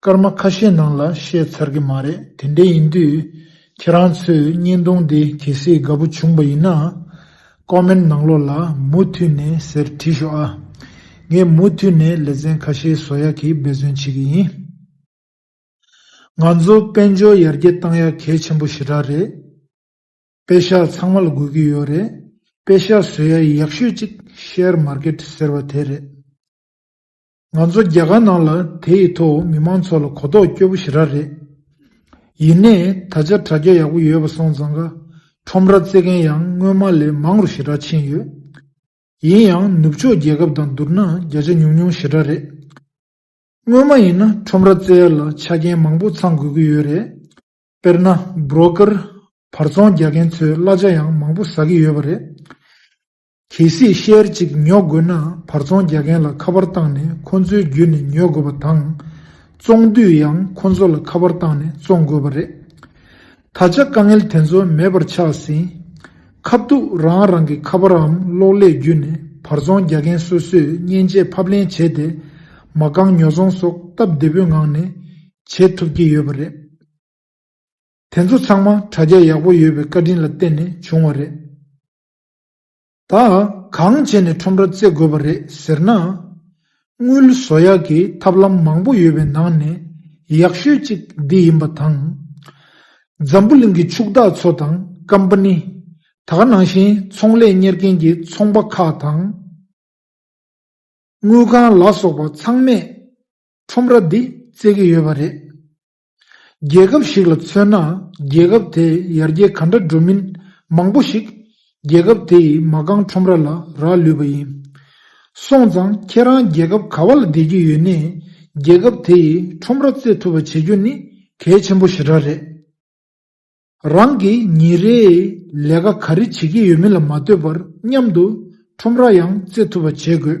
སྐར་མ་ཁ་ཤས་ནང་ལ་བཤད་ཚར་གི་མ་རེད་དེ་འདྲས་ཡིན་དུས་ཁྱེད་རང་ཚོས་བརྙན་ཐུང་འདི་གལ་སྲིད་དགའ་པོ་བྱུང་བ་ཡིན་ན། Comment ནང་ལོགས་ལ་མུ་མཐུད་ནས་ཟེར་བྲིས་ཤོག་ཨ། ངས་མུ་མཐུད་ནས་ལེ་ཚན་ཁ་ཤས་བཟོ་ཡག་གི་འབད་བརྩོན་བྱེད་ཀྱི་ཡིན། ང་ཚོ་དཔལ་འབྱོར་ཡར་རྒྱས་བཏང་ཡག་གལ་ཆེན་པོ་ཞེ་དྲག་རེད། དཔེ་ཤག་ཚང་མ་ལ་དགོས་ཀྱི་ཡོད་རེད་དཔེ་ཤག་བཟོས་ཡག་ཡག་ཤོས་གཅིག Share Market ཟེར་བ་དེ་རེད། ང་ཚོ་རྒྱ་གར་ནང་ལ་དེ་ཡི་ཐོག་མི་མང་ཚོ་ལ་གོ་རྟོགས་སྐྱོ་པོ་ཞེ་དྲག་རེད། ཡིན་ནས་ད་ཆ་དྲ་རྒྱ་ཡག་པོ་ཡོད་པ་སོང་ཙང་ཀ་ཁྲོམ་ར་རྩེ་མཁན་ཡང་སྔོན་མ་ལས་མང་རུ་ཞེ་དྲག་ཕྱིན་ཡོད། ཡིན་ཡང་ནུབ་ཕྱོགས་རྒྱལ་ཁབ་དང་བསྡུར་ན་བརྒྱ་ཆ་ཉུང་ཉུང་ཞེ་དྲག་རེད། སྔོན་མ་ཡིན་ན་ཁྲོམ་ར་རྩེ་ལ་ཆ་རྐྱེན་མང་པོ་ཚང་དགོས་ཀྱི་ཡོད་རེད། དཔེར་ན Broker། བར་ཚོང་རྒྱག་མཁན་ཚོས་གླ་ཆ་ཡང་མང་པོ་ཟ་གི་ཡོད་པ་རེད། གལ་སྲིད་ཤེལ་ཅིག་ཉོ་དགོས་ན་བར་ཚོང་རྒྱག་མཁན་ལ་ཁ་པར་བཏང་ནས་ཁོ་ཚོའི་བརྒྱུད་ནས་ཉོ་དགོས་པ་དང། བཙོང་དུས་ཡང་ཁོ་ཚོ་ལ་ཁ་པར་བཏང་ནས་བཙོང་དགོས་པ་རེད། ད་ཆ་དཀའ་ངལ་དེ་ཚོ་མེད་པར་ཆགས་ཟིན། ཁ་བཏུག་རང་རང་གི་ཁ་པརའམ་གློག་ཀླད་བརྒྱུད་ནས་བར་ཚོང་རྒྱག་མཁན་སོ་སོས་མཉེན་ཆས་ཕབ་ལེན་བྱས་ཏེ་མ་རྐང་ཉོ་ཚོང་སོགས་སྟབས་བདེ་པོའི་ངང་ནས་བྱེད་ཐུབ་ཀྱི་ཡོད་པ་རེད། དེ་ཚོ་ཚང་མ་དྲ་རྒྱ་ཡག་པོ་ཡོད་པའི་བཀའ་དྲིན་ལ་བརྟེན་ནས་བྱུང་བ་རེད། དག་གང་བྱས་ནས་ཁྲོམ་ར་བརྩེགས་དགོས་པ་རེད་ཟེར་ན། དངུལ་བཟོ་ཡག་གི་ཐབས་ལམ་མང་པོ་ཡོད་པའི་ནང་ནས་ཡག་ཤོས་ཅིག་འདི་ཡིན་པ་དང། འཛམ་བུ་གླིང་གི་ཕྱུག་བདག་ཚོ་དང་ཀམ་པ་ནི་དག་ནང་བཞིན་ཚོང་ལས་གཉེར་མཁན་གྱི་ཚོང་པ་ཁག་དང། དངུལ་ཁང་ལ་སོགས་པ་ཚང་མས་ཁྲོམ་ར་འདི་བརྩེགས་ཀྱི་ཡོད་པ་རེད། རྒྱལ་ཁབ་ཞིག་ལ་མཚོན་ན་རྒྱལ་ཁབ་དེས་ཡར་རྒྱས་ག་འདྲ་འགྲོ་མིན་མང་པོ་ཞིག་རྒྱལ་ཁབ་དེ་ཡི་མ་རྐང་ཁྲོམ་ར་ལ་རག་ལུས་པ་ཡིན། སོང་ཙང་ཁྱེད་རང་རྒྱལ་ཁབ་ག་བ་ལ་བསྡད་རྒྱུ་ཡོད་ནས་རྒྱལ་ཁབ་དེ་ཡི་ཁྲོམ་ར་རྩེ་ཐུབ་པ་བྱེད་རྒྱུ་ནི་གལ་ཆེན་པོ་ཞེ་དྲག་རེད། རང་གིས་ཉིན་རེའི་ལས་ཀ་ག་རེ་བྱེད་ཀྱི་ཡོད་མིན་ལ་མ་ལྟོས་པར་མཉམ་དུ་ཁྲོམ་ར་ཡང་རྩེ་ཐུབ་པ་བྱེད་དགོས།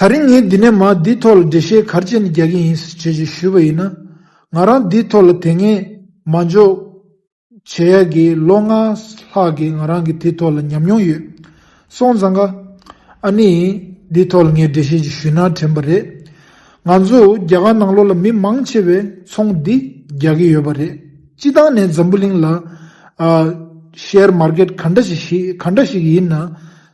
ད་རིང་ངས་འདི་ནས་མ་འདིའི་ཐོག་ལ་འགྲེལ་བཤད་གར་བྱེད་ནས་རྒྱག་གི་ཡིན་ཟེར་བྱས་ཞེས་ཞུས་པ་ཡིན་ན། ང་རང་འདིའི་ཐོག་ལ་དེ་སྔའི་མ་འཇོག་བྱས་ཡ་གི་ལོ་ལྔ་ལྷག་གི་ང་རང་གི་དེ་ཐོག་ལ་ཉམས་མྱོང་ཡོད། སོང་ཙང་ཀ། ཨ་ནི། འདིའི་ཐོག་ལ་ངས་འགྲེལ་བཤད་ཅིག་ཞུས་ན་དྲན་པ་རེད། ང་ཚོ་རྒྱ་གར་ནང་ལོགས་ལ་མི་མང་ཆེ་བས་ཚོང་འདི་རྒྱག་གི་ཡོད་པ་རེད། སྤྱི་སྟངས་ནས་འཛམ་བུ་གླིང་ལ། Share Market ག་འདྲ་ཞིག་ག་འདྲ་ཞིག་ཡིན་ན།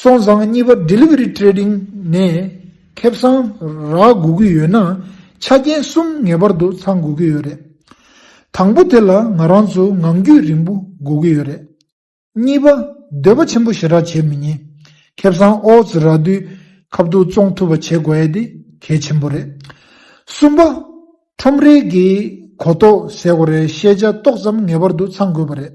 སོང་ཙང་གཉིས་པ Delivery Trading ནས་ཁེ་བཟང་རག་དགོས་ཀྱི་ཡོད་ན་ཆ་རྐྱེན་གསུམ་ངེས་པར་དུ་ཚང་དགོས་ཀྱི་ཡོད་རེད། དང་པོ་དེ་ལ་ང་རང་ཚོ་ངང་རྒྱུད་རིང་པོ་དགོས་ཀྱི་ཡོད་རེད། གཉིས་པ་འདོད་པ་ཆེན་པོ་ཞེ་དྲག་བྱེད་མི་ཉན། ཁེ་བཟང་ཨོ་རྩི་རག་དུས་ཁབ་ཏུ་བཙོང་ཐུབ་པ་བྱེད་དགོས་ཡས་དེ་གལ་ཆེན་པོ་རེད། གསུམ་པ། ཁྲོམ་རའི་གི་གོ་རྟོགས་ཟེར་དགོས་རེད་ཤེས་བྱ་ཏོག་ཙམ་ངེས་པར་དུ་ཚང་དགོས་པ་རེད།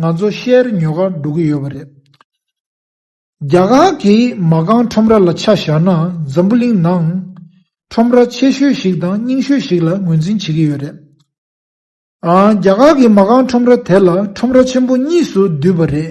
ང་ཚོ་ཤེར་ཉོ་གར་འགྲོ་གི་ཡོད་པ་རེད། རྒྱ་གར་གྱི་མ་རྐང་ཁྲོམ་ར་ལ་ཆ་བཞག་ན་འཛམ་བུ་གླིང་ནང་ཁྲོམ་ར་ཆེ་ཤོས་ཤིག་དང་རྙིང་ཤོས་ཤིག་ལ་ངོས་འཛིན་བྱེད་ཀྱི་ཡོད་རེད། རྒྱ་གར་གྱི་མ་རྐང་ཁྲོམ་ར་དེ་ལ་ཁྲོམ་ར་ཆེན་པོ་གཉིས་སུ་བསྡུས་པ་རེད།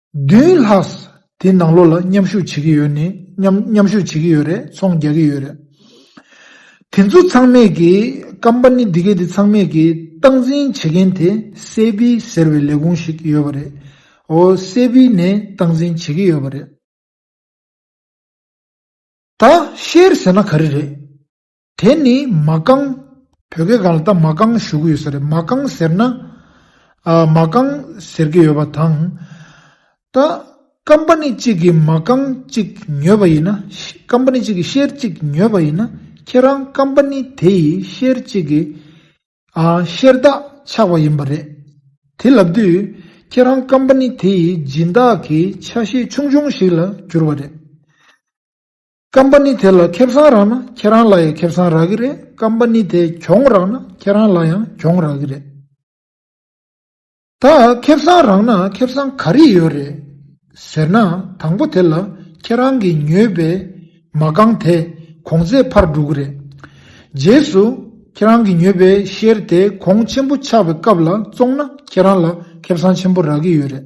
བདུན་ལྷག་དེ་ནང་ལོགས་ལ་མཉམ་ཞུགས་བྱེད་ཀྱི་ཡོད་མཉམ་ཞུགས་བྱེད་ཀྱི་ཡོད་རེད་ཚོང་རྒྱག་གི་ཡོད་རེད། དེ་ཚོ་ཚང་མས་ཀྱི་ཀམ་པ་ནི་འདི་གའི་དེ་ཚང་མས་ཀྱི་སྟངས་འཛིན་བྱེད་མཁན་དེ་སེ་བྷི་ཟེར་བའི་ལས་ཁུངས་ཤིག་ཡོད་པ་རེད། ཨོ་སེ་བྷི་ནས་སྟངས་འཛིན་བྱེད་ཀྱི་ཡོད་པ་རེད། ད་ཤེར་ཟེར་ན་ག་རེ་རེད། དེ་ནི་མ་རྐང། བོད་སྐད་ག་ལ་ད་མ་རྐང་ཞུ་གི་ཡོད་ས་རེད་མ་རྐང་ཟེར་ན། མ་རྐང་ཟེར་གི་ཡོད་པ་དང། ད་ཀམ་པ་ནི་གཅིག་གིས་མ་རྐང་གཅིག་ཉོས་པ་ཡིན་ན། ཀམ་པ་ནི་གཅིག་གིས་ཤེར་གཅིག་ཉོས་པ་ཡིན་ན་ཁྱེད་རང་ཀམ་པ་ནི་དེ་ཡིས་ཤེར་གཅིག་གི། ཤེར་བདག་ཆགས་པ་ཡིན་པ་རེད། དེ་ལབ་དུས་ཁྱེད་རང་ཀམ་པ་ནི་དེ་ཡི་སྦྱིན་བདག་གི་ཆ་ཤས་ཆུང་ཆུང་ཞིག་ལ་གྱུར་བ་རེད། Company དེ་ལ་ཁེབས་སང་རག་ན་ཁྱེད་རང་ལ་ཡང་ཁེབས་སང་རག་གི་རེད Company དེ་གྱོང་རག་ན་ཁྱེད་རང་ལ་ཡང་གྱོང་རག་གི་རེད། ད་ཁེབས་སང་རག་ན་ཁེབས་སང་ག་རེ་ཡོད་རེད་ཟེར་ན་དང་པོ་དེ་ལ་ཁྱེད་རང་གི་ཉོས་པའི་མ་རྐང་དེ་གོང་ཚད་འཕར་འགྲོ་གི་རེད། རྗེས་སུ་ཁྱེད་རང་གི་ཉོས་པའི Share དེ་གོང་ཆེན་པོ་ཆགས་པའི་སྐབས་ལ་བཙོང་ན་ཁྱེད་རང་ལ་ཁེབས་སང་ཆེན་པོ་རག་གི་ཡོད་རེད།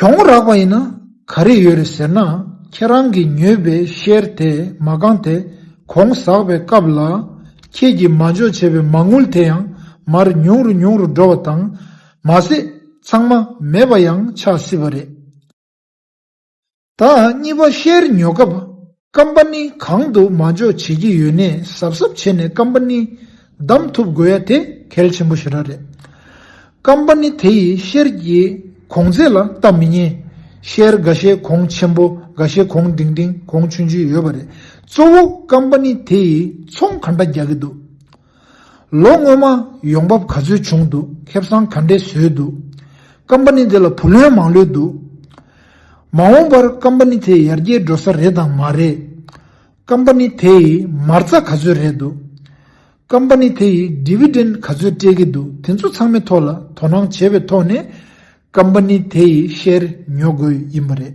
གྱོང་རག་པ་ཡིན་ན་ག་རེ་ཡོད་རེད་ཟེར་ན་ཁྱེད་རང་གིས་ཉོས་པའི་ཤེར་དེ་མ་གང་དེ་གོང་ཟག་པའི་སྐབས་ལ་ཁྱེད་ཀྱིས་མ་འཇོག་བྱས་པའི་མ་དངུལ་དེ་ཡང་མར་ཉུང་རུ་ཉུང་རུ་འགྲོ་བ་དང། མ་ཟད་ཚང་མ་མེད་པ་ཡང་ཆགས་སྲིད་པ་རེད། ད་གཉིས་པ་ཤེར་ཉོ་སྐབས་ཀམ་པ་ཎི་གང་དུ་མ་འཇོག་བྱེད་ཀྱི་ཡོད་གནས་ཟབ་ཟབ་བྱས་ནས་ཀམ་པ་ཎི་བདམས་ཐུབ་དགོས་ཡ་དེ་གལ་ཆེན་པོ་ཞེ་དྲག་རེད། ཀམ་པ་ཎི་དེ་ཡིས་ཤེར་གྱི་གོང་ཚད་ལ་ལྟ་མི་ཉན། ཤེར་དགའ་ཤེལ་གོང་ཆེན་པོ་དགའ་ཤེལ་གོང་ལྡིང་ལྡིང་གོང་ཆུན་ཆུན་ཡོད་པ་རེད། གཙོ་བོ་ཀམ་པ་ཎི་དེ་ཡིས་ཚོང་ག་འདྲ་རྒྱག་གི་འདུག། ལོ་སྔོན་མ་ཡོང་འབབ་ག་ཚོད་བྱུང་འདུག་ཁེབ་སང་ག་འདྲས་བཟོས་འདུག་ཀམ་པ་ནི་དེ་ལ་བུ་ལོན་མང་ལོས་འདུག་མ་འོངས་པར་ཀམ་པ་ནི་དེ་ཡར་རྒྱས་འགྲོ་ས་རེད་དང་མ་རེད་ཀམ་པ་ནི་དེ་ཡིས་མར་རྩ་ག་ཚོད་རེད་འདུག་ཀམ་པ་ནི་དེ་ཡིས Dividend ག་ཚོད་སྤྲད་ཀྱི་འདུག་དེ་ཚོ་ཚང་མའི་ཐོག་ལ་དོ་སྣང་བྱས་པའི་ཐོག་ནས་ཀམ་པ་ནི་དེ་ཡི Share ཉོ་དགོས་ཡིན་པ་རེད།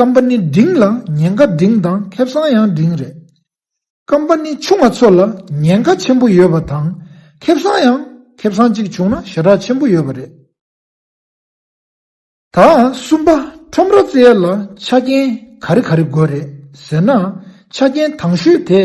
སྐམ་པ་ནི་འབྲིང་ལ་ཉེན་ཁ་འབྲིང་དང་ཁེབས་སང་ཡང་འབྲིང་རེད། སྐམ་པ་ནི་ཆུང་བ་ཚོ་ལ་ཉེན་ཁ་ཆེན་པོ་ཡོད་པ་དང་ཁེབས་སང་ཡང་ཁེབས་སང་གཅིག་བྱུང་ན་ཞེ་དྲག་ཆེན་པོ་ཡོད་པ་རེད། ད་གསུམ་པ་ཁྲོམ་ར་རྩེ་ཡལ་ལ་ཆ་རྐྱེན་ག་རེ་ག་རེ་དགོས་རེད་ཟེར་ན་ཆ་རྐྱེན་དང་ཤོས་དེ།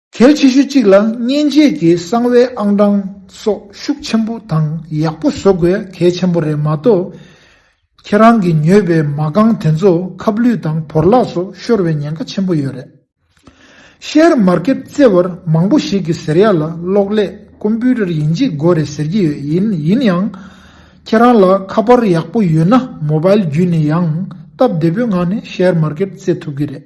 གལ་ཆེ་ཤོས་གཅིག་ལ་མཉེན་ཆས་ཀྱི་གསང་བའི་ཨང་གྲངས་སོགས་ཤུགས་ཆེན་པོ་དང་ཡག་པོ་བཟོ་དགོས་གལ་ཆེན་པོ་རེད་མ་གཏོགས། ཁྱེད་རང་གིས་ཉོས་པའི་མ་རྐང་དེ་ཚོ་ཁབ་ལུད་དང་བོར་བརླག་སོགས་ཤོར་བའི་ཉེན་ཁ་ཆེན་པོ་ཡོད་རེད། Share Market བརྩེ་བར་མང་པོ་ཞིག་གིས་ཟེར་ཡག་ལ་གློག་ཀླད Computer ཡིན་གཅིག་དགོས་རེད་ཟེར་གྱི་ཡོད་ཡིན་ཡིན་ཡང། ཁྱེད་རང་ལ་ཁ་པར་ཡག་པོ་ཡོད་ན Mobile བརྒྱུད་ནས་ཡང་སྟབས་བདེ་པོའི་ངང་ནས Share Market བརྩེ་ཐུབ་གི་རེད།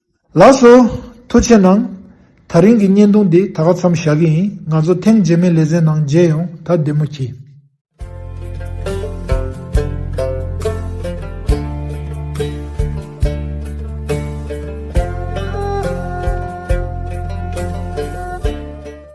ལགས་སོ། ཐུགས་ཆེ་གནང། ཐག་རིང་གི་བརྙན་ཐུང་འདི་ད་ག་ཚམ་བཞག་གི་ཡིན་ང་ཚོ་ཐེངས་རྗེས་མའི་ལེ་ཚན་ནང་མཇལ་ཡོང་ད་བདེ་མོ་གྱིས།